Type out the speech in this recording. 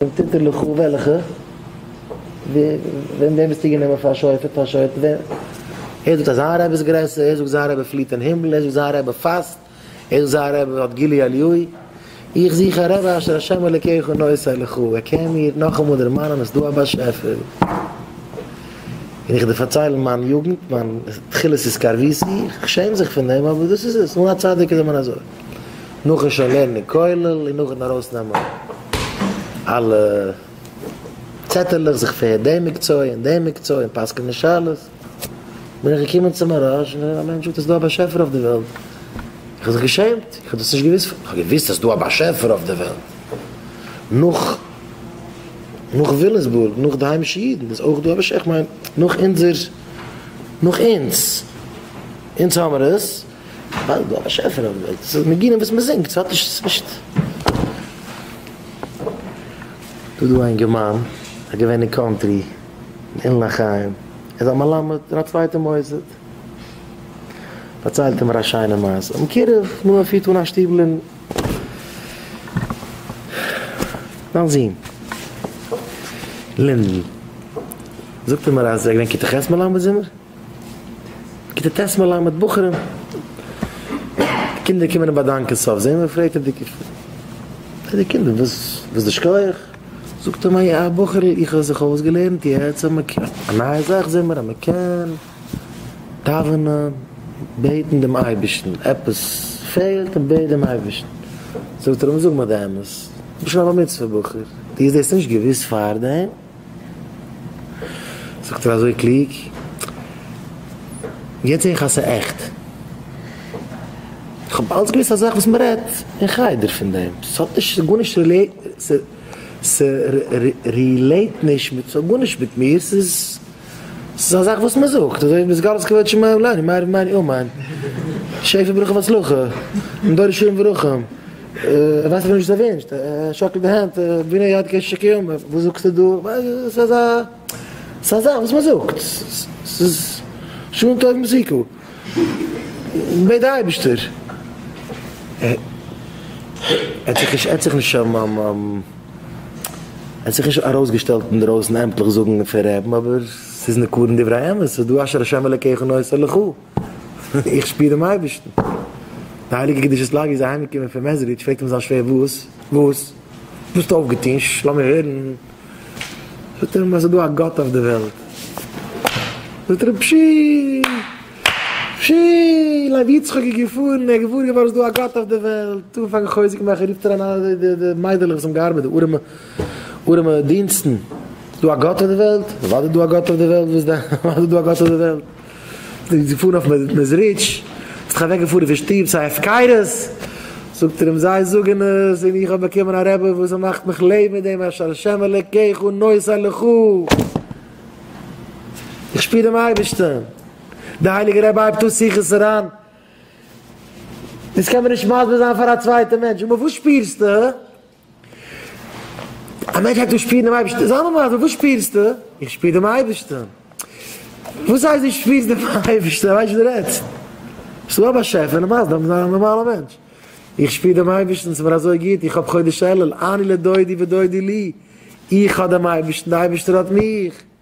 און תתן לך וועלכע ווען דעם ביסטו גענומען פאר שופט פאר שופט ווען ער זאגט אז זיין רבי איז גרעסער ער זאגט זיין רבי פליט אין הימל ער זאגט זיין רבי פאסט ער זאגט זיין רבי האט גילוי אליהו איך זוך א רבי אשר השם אלקיך נושא לך ער קען מיר נאכאמאל דערמאנען אז דא א באשעפער און איך דיר פארציילן מיין יוגנט מיין תחילת התקרבותי איך שעם זיך פון דעם אבער דאס איז עס אן א צדיק איז מען אזוי. נאכן שוין לערנען כולל און נאכן ארויס נעמען אלע צעטעלעך זיך פעהרן דעם מקצוע און דעם מקצוע און פסק'נען שאלות בין איך געקומען צו מהרש און געזעהן אז מענטש זאגט אז ס'דא א באשעפער אויף די וועלט איך האב זיך געשעמט איך האב דאס נישט געוויסט איך האב געוויסט אז ס'דא א באשעפער אויף די וועלט נאך נאך וויליסבורג נאך די היימישע אידן איז אויך דא א באשעפער איך מיין נאך אונזער נאך אונז אונז האמער עס. ווייל דא באשעפער האט געלייגט ס'איז ניגונים וואס מ'זינגט ס'האט נישט ס'איז נישט. דא דא א אינגערמאן א געווען אין קאנטרי אין אילן החיים ער איז א מלמד אין א צווייטע מוסד פארציילט ער מיר א שיינע מעשה האבן קירוב נו ער פירט אן א שטיבל אין זיין זון לינדען זאגט ער מיר אז ער איז געווען כתה ח' מלמד זומער. כיתה ט' מלמד בחורים, קינדער קומען אים באדאנקען סוף זעמער און פרעגט די קינדער די קינדער וואס איז די שכח? זאגט אים א בחור'ל איך האב זיך אויסגעלערנט יעצט אז מען קען א נייע זאך זעמער אז מען קען דאווענען בעטן דעם אייבערשטן עפעס פעלט און בעט דעם אייבערשטן זאגט ער אים זאג מיר די אמת דו ביסט שוין א בר מצוה בחור דו האסט דאס נישט געוואוסט פארדעם? זאגט ער אזוי קלוג, יעצט זע איך אז ס'איז עכט. איך האב אלץ געוואוסט א זאך וואס מ'רעדט אין חדר פון דעם. ס'האט נישט גארנישט רילעיט, ס'רילעיט נישט מיט, ס'האט גארנישט מיט מיר, ס'איז ס'איז א זאך וואס מען זאגט, אזוי ווי ביז גלות כבוד שמים עלינו, מהר א מהר א אמן, שפע ברכה והצלחה, און דור ישרים ורחום, ער ווייסט אפילו נישט וואס ער ווינשט, ער שאקלט די הענט, בני יד קעש שקיעם, וואס זאגסטו דא, ס'איז א זאך וואס מען זאגט, ס'איז שמן טוב מסוכו. בעט די אייבישטער ער האט זיך ער האט זיך נישט ער האט זיך נישט ארויסגעשטעלט אינדרויסן עמטליך זאגן פון רעבן אבער ס'איז נקרן דברי האמת ס'איז דא אשר השם אלקיך נושא לך איך שפיר דעם אייבישטן די הייליגע קדושת לוי איז אהיימגעקומען פון מעזריטש פרעגט אים זיין שווער וואס וואס האסטו אויפגעטון לאמיר הערן. זאגט ער אים אז ס'איז דא א גאט אויף די וועלט, זאגט ער אים פשי! פשי! לוי יצחק איז געפארן, ער איז געוואר געווארן ס'איז דא א גאט אויף די וועלט, האט אנגעפאנגען חוזק מאכן, רופט אריין אלע די די מיידלעך וואס האבן געארבעט, די ארעמע ארעמע דינסטן, ס'איז דא א גאט אויף די וועלט? אוודאי איז דא א גאט אויף די וועלט, וואס דען? אוודאי איז דא א גאט אויף די וועלט! זיי פארן אויף מעזריטש, ביסט דאך אוועק געפארן פון שטוב סיי הפקרות, זאגט ער אים זיי זאגן עס און איך האב באקומען א רבי וואס מאכט מיך לעבן מיט דעם אפשר השם אלוקיך נושא לכה, איך שפיר דעם אייבערשטען, דער הייליגער רבי הייבט אן שיחות אריין, דאס קען מען נישט מסביר זיין פאר א צווייטע מענטש, אמאל וואס שפירסטו? א מענטש הייבט אן שפירן דעם אייבערשטן, זיי מאמע, וואס שפירסטו? איך שפיר דעם אייבערשטן. וואס הייסט דו שפירסט דעם אייבערשטן? איך ווייס נישט וואס דו רעדסט. ס'איז דא א באשעפער, נארמאל זאל מען זיין א נארמאלער מענטש. איך שפיר דעם אייבערשטן, ס'איז מיר אזוי גוט, איך האב חודש אלול, אני לדודי ודודי לי, איך האב דעם אייבערשטן, דער אייבערשטער האט מיך.